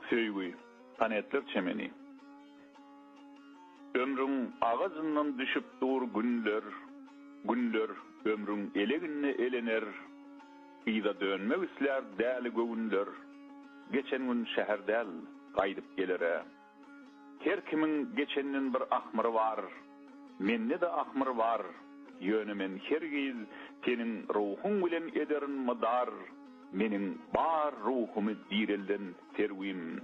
Söýgi, panetler çemeni. Ömrüň agajyndan düşüp dur günler, Günler, ömrüň eleginde elener, Yza dönmek islär däli göwünler, Geçen gün şäher däl, gaýdyp geler-ä. Her kimiň geçenden bir ahmyry bar, Mende-de ahmyr bar, Ýöne men hergiz seniň ruhuň bilen ederin mydar, Meniň bar ruhumy direlden serwim.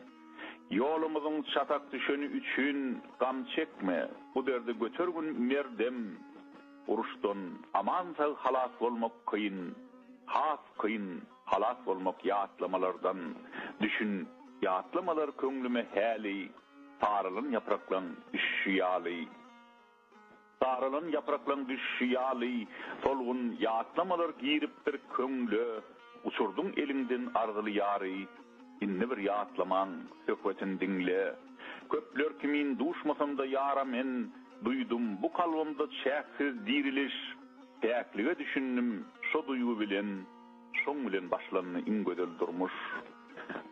Ýolumyzyň çatak düşeni üçin gam çekme, Bu derdi göter gün merdem. Uruşdan aman-sag halas bolmak kyn, has kyn. Halas bolmak ýatlamalardan düşün Ýatlamalar köňlüme häli Saralan ýapraklaň düşüşi ýaly Saralan ýapraklaň düşüşi ýaly Solgun ýatlamalar giripdir köňle Uçurdyň eliňden arzyly ýary Indi bir ýatlamaň söhbetin diňle Köpler kimin duşmasam-da ýara men Duýdum bu kalbymda çäksiz diriliş Päklige düşündim şo duýgy bilen Şoň bilen başlandy iň gözel durmuş.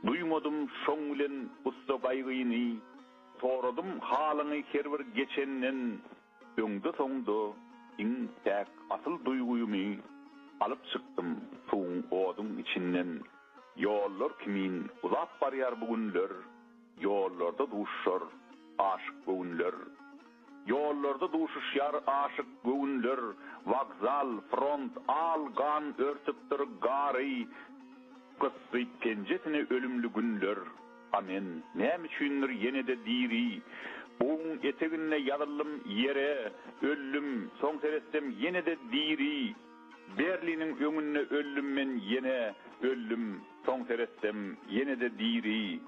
Duýmadym şoň bilen gussa gaýgyny. Soradym halyňy her bir geçenden. Öňde-soňda iň päk asyl duýgymy. Alyp çykdym suwuň oduň içinden. Ýollar kimin uzap barýar bu günler. Ýollarda duşar aşyk göwünler. Ýollarda duşuşýar aşyk göwünler, Wokzal, front, al gan örtüpdir gary, Gysdyp penjesini ölümli günler, A men, näme üçindir ýene-de diri. Buguň eteginde ýazyldym ýere, öldüm, Soň seretsem ýene-de diri. Berliniň öňünde öldüm men ýene, öldüm, Soň seretsem ýene-de diri.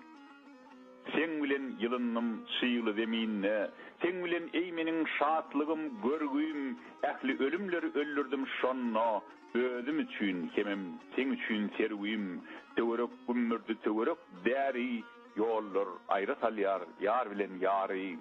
Seň bilen ýylyndym çygly zeminde, Seň bilen eý meniň şatlygym, görgüim, Ähli ölümleri öldürdim şonda, Özüm üçin hemem seň üçin serwim. Töwerek gümmürdi töwerek däri, Ýollar aýra salýar ýar bilen ýary.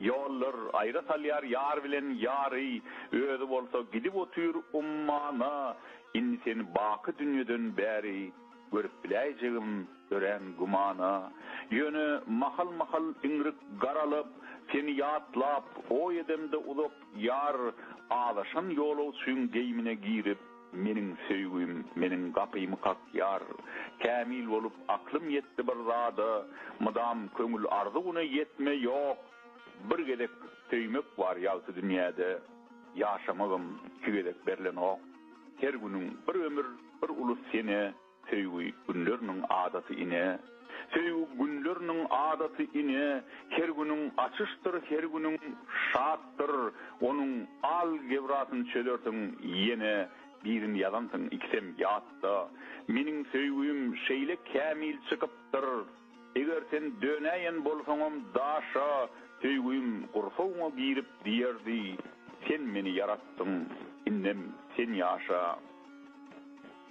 Ýollar aýra salýar ýar bilen ýary, Özi bolsa gidip otyr ummana, Indi sen baky dünýeden bäri. Görüp biläýjegim örän gümana. Ýöne mahal-mahal iňrik garalyp, seni ýatlap, oý edemde uzak ýar azaşan ýolagçyň geýimine girip, meniň söýgim, meniň gapymy kakýar. Kämil bolup, aklym ýetdi bir zada, mydam köňül arzuwyna ýetme ýok. Bir gezek söýmek bar ýagty dünýäde, ýaşamagam iki gezek berlenok. Her günüň bir ömür bir ulus sene Söýgi günleriniň adaty ine Söýgi günleriniň adaty ine Her günüň açyşdyr her günüň şatdyr Onuň al gebrasyny çözersiň ýene Birin ýazansyň ikisem ýatda Meniň söýgim şeýle kämil çykypdyr Eger sen dönäýen bolsaňam Daşa söýgim gursagyňa girip diýerdi, Sen meni ýaratdyň, indem sen ýaşa.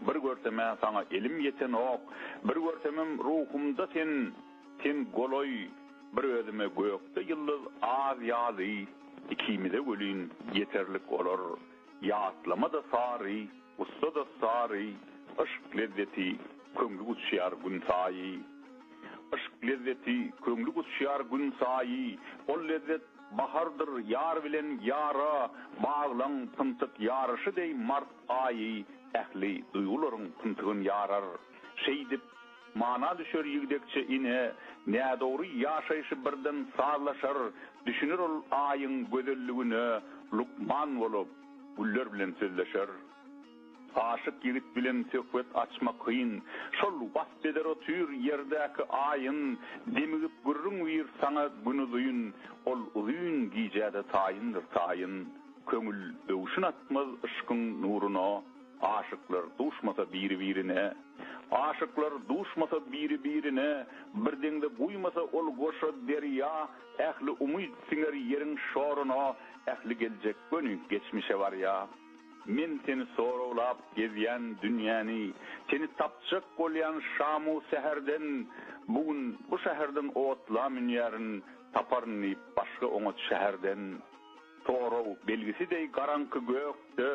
Bir görsemä saňa elim ýetenok, Bir görsemem ruhumda sen, Sen golaý, bir özüme gökde ýyldyz az ýazy, Ikimize welin ýeterlik olar. Ýatlama-da sary, gussa-da sary, Yşk lezzeti, köňli guçýar günsaýy. Yşk lezzeti, köňli guçýar günsaýy, Ol lezzet bahardyr ýar bilen ýara Baglaň pyntyk ýaryşy deý mart aýy, Ähli duýgularyň pyntygyn ýarar. Şeýdip, Mana düşer ýigdekçe ine, Nädogry ýaşaýşy birden sazlaşar, Düşüner ol Aýyň gözelligine Lukman bolup, güller bilen sözleşer. Aşyk ýigit bilen söhbet açmak kyn, Şol wasp eder otyr ýerdäki Aýyn, Demigip gürrüň wir saňa gün-uzyn, Ol uzyn gijäde taýyndyr taýyn. Köňül öwşün atmaz yşkyň nuruna. Aşyklar duşmasa biri-birine. Aşyklar duşmasa biri-birine, Bir deňze guýmasa ol goşa derýa, Ähli umyt siňer ýeriň şoruna, Ähli geljek göni geçmişe barýa. Men seni soraglap gezýän dünýäni, Seni tapjak bolýan şamu säherden, Bu gün bu şäherden otla münýärin, Taparyn diýip başga oňat şäherden. Sorag belgisi deý garaňky gökde,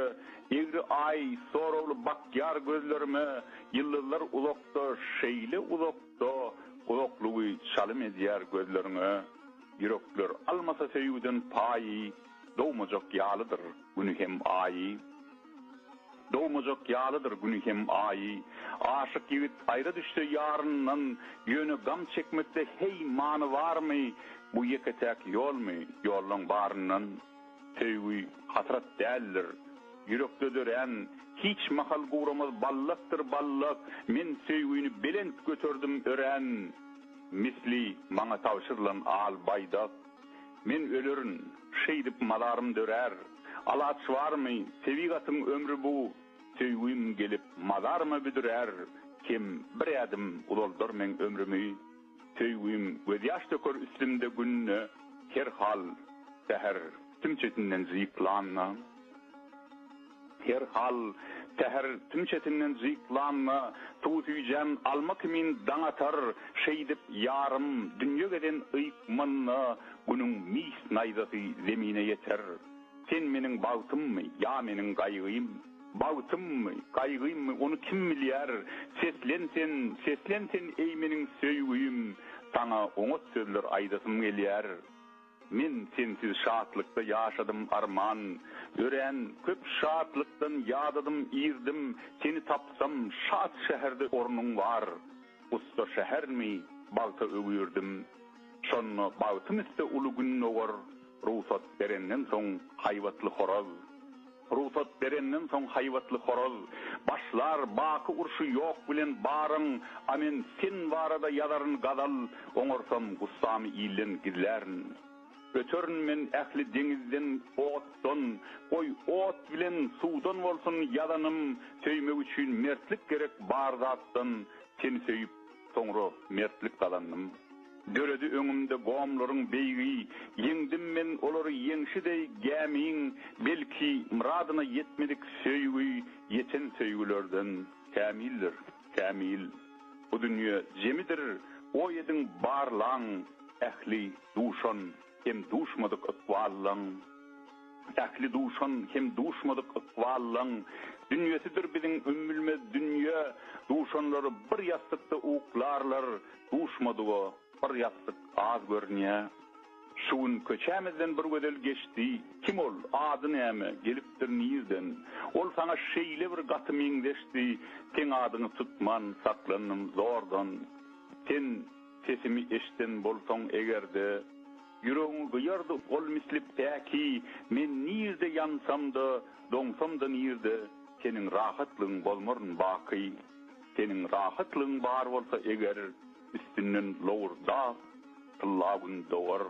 Egri Aý, soragly bakýar gözlerime, Ýyldyzlar uzakda, şeýle uzakda, Uzaklygy çalym edýär gözleriňe. Ýürekler almasa söýgüden paýy, Dogmajak ýalydyr Güni hem Aýy. Dogmajak ýalydyr güni hem aýy, Aşyk ýigit aýra düşse ýaryndan, Ýöne gam çekmekde heý many barmy, Bu ýeke-täk ýolmy, ýollaň baryndan? Söýgi hasrat däldir, ýürekde dörän, Hiç mahal guramaz ballakdyr ballak, Men söýgini belent göterdim örän, Misli maňa tabşyrylan al baýdak. Men ölerin, şeýdip mazarym dörär, Alaç barmy, tebigatyň ömri bu, Söýgim gelip mazaryma büdürär, Kim bir ädim uzaldar meň ömrümi? Söýgim gözýaş döker üstümde günde, Her hal, säher sümçesinden zyýplanda. Her hal, säher tüm çetinden jyklanda, suw süýjän alma kimin daň atar, şeýdip, ýarym dünýe gezen yýkmanda, günüň mis naýzasy zemine ýeter. Sen meniň bagtymmy, ýa meniň gaýgym? Bagtymmy, gaýgymmy, ony kim bilýär? Seslen sen, seslen sen, eý, meniň söýgüim! Saňa oňat sözler aýdasym gelýär. Men sensiz şatlykda ýaşadym arman örän köp şatlykdan ýadadym irdim seni tapsam şat şäherde ornuň bar ussa şähermi bagta öwürdim şonda bagtym üste uly gün dogar rugsat berenden soň haýbatly horaz. Rugsat berenden soň haýbatly horaz, Başlar baky urşy ýok bilen baryň, A men sen barada ýazaryn gazal, Oňarsam gussamy ilden gizlärin. Öterin men ähli deňizden, otdan, Goý, ot bilen, suwdan bolsun ýazanym, Söýmek üçin mertlik gerek bar zatdan, Seni söýüp, Soňra mertlik gazandym. Döredi öňümde gomlaryň beýigi, Ýeňdim men olary ýeňşi deý gämiň, Belki, myradyna ýetmedik söýgi Ýeten söýgülerden kämildir, kämil. Bu dünýe jemidir, goý ediň barlaň, Ähli duşan hem duşmadyk ykballaň. Ähli duşan hem duşmadyk ykballaň dünýesidir biziň ümmülmez dünýe, Duşanlary bir ýassykda uklarlar, duşmadyga bir ýassyk az görünýä. Şu gün köçämizden bir gözel geçdi, kim ol, ady näme, gelipdir nirden, Ol saňa şeýle bir gaty meňzeşdi, seň adyňy tutman saklandym zordan. Sen sesimi eşden bolsaň eger-de. Ýüregiňi gyýardy ol misli päki Men nirde ýansam-da, doňsam-da nirde, Seniň rahatlygyň bolmaryn baky. Seniň rahatlygyň bar bolsa eger, Üstünden lowurdap, tylla gün dogar.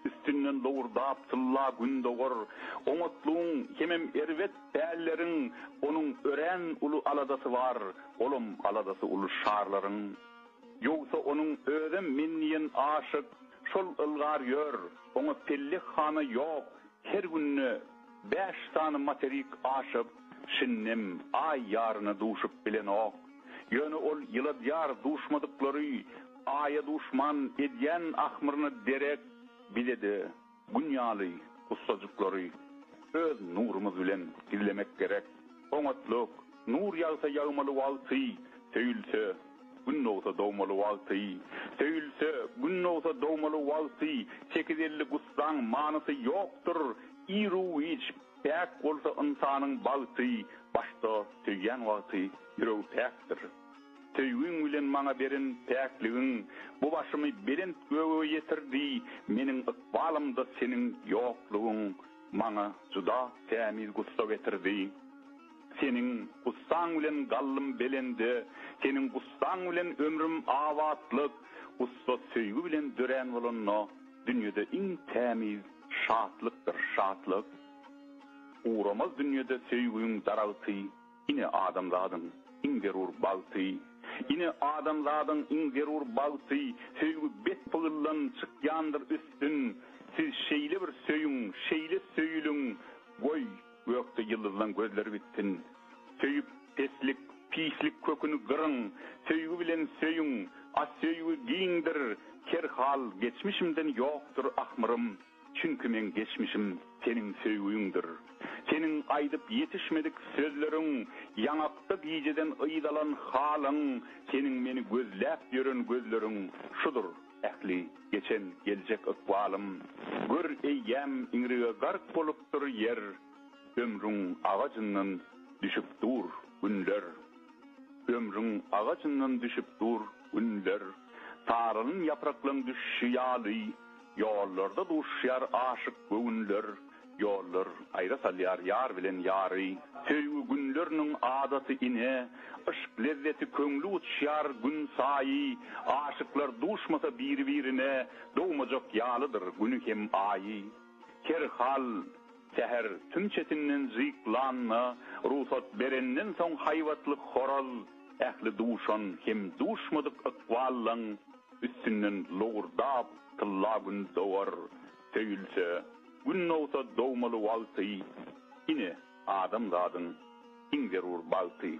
Üstünden lowurdap, tylla gün dogar. Oňatlygyň hemem erbet pälleriň, Onuň örän uly aladasy bar, Olam aladasy uly şarlaryň. Ýogsa onuň özem men diýen aşyk şol ylgar ýör, oňa pellek hana ýok, her günde bäş sany materik aşyp, şindem Aý ýaryna duşup bilenok. Ýöne ol ýyladýar duşmadyklary Aýa duşman edýän ahmyryna derek bize-de. Gün ýaly ussajyklary öz nurumyz bilen gizlemek gerek. Oňatlyk, nur ýagsa ýagmaly wagty, söýülse, gün dogsa dogmaly wagty, söýülse, gün dogsa dogmaly wagty, sekiz ellik ussaň manysy ýokdur, i-ruwiç päk bolsa ynsanyň bagty, başda söýýän wagty ýüregi päkdir. Söýgiň bilen maňa beren päkligiň Bu başymy belent göge ýetirdi, Meniň ykbalymda seniň ýoklugyň Maňa juda tämiz gussa getirdi. Seniň gussaň bilen galdym belende, Seniň gussaň bilen ömrüm abatlyk, Gussa söýgi bilen dörän bolanda, Dünýede iň tämiz şatlykdyr şatlyk. Guramaz dünýede söýgiň daragty. Ine adamzadyň iň zerur bagty, Ine adamzadyň iň zerur bagty, Söýgi bet pygyldan çykýandyr üstün, Siz şeýle bir söýüň, şeýle söýüliň, Goý, gökde ýyldyzlaň gözleri gitsin. Söýüp, peslik, pislik köküni gyryň, Söýgi bilen söýüň, a söýgi giňdir, Her hal geçmişimden ýokdur ahmyrym. Çünki meň geçmişim Seniň söýgiňdir. Seniň aýdyp ýetişmedik sözleriň, Ýaňakda gijeden yz alan halyň, Seniň meni gözläp ýören gözleriň, Şudur ähli geçen, geljek ykbalym. Gör, eýýäm iňrige gark bolupdyr ýer, Ömrüň agajyndan düşüp dur günler. Ömrüň agajyndan düşüp dur günler, Saralyn ýapraklaň düşşi ýaly. Ýollarda duşuşýar aşyk göwünler, Ýollar aýra salýar ýar bilen ýary. Söýgi günleriniň adaty ine, Yşk lezzeti köňli uçýar günsaýy. Aşyklar duşmasa biri-birine, Dogmajak ýalydyr güni hem aýy. Her hal, säher tüm çetinden jyklanda, Rugsat berenden soň haýbatly horaz, Ähli duşan hem duşmadyk ykballaň. Üstünden lowurdap tylla gün dogar, Söýülse, gün dogsa dogmaly wagty, Ine, adamzadyň iň zerur bagty.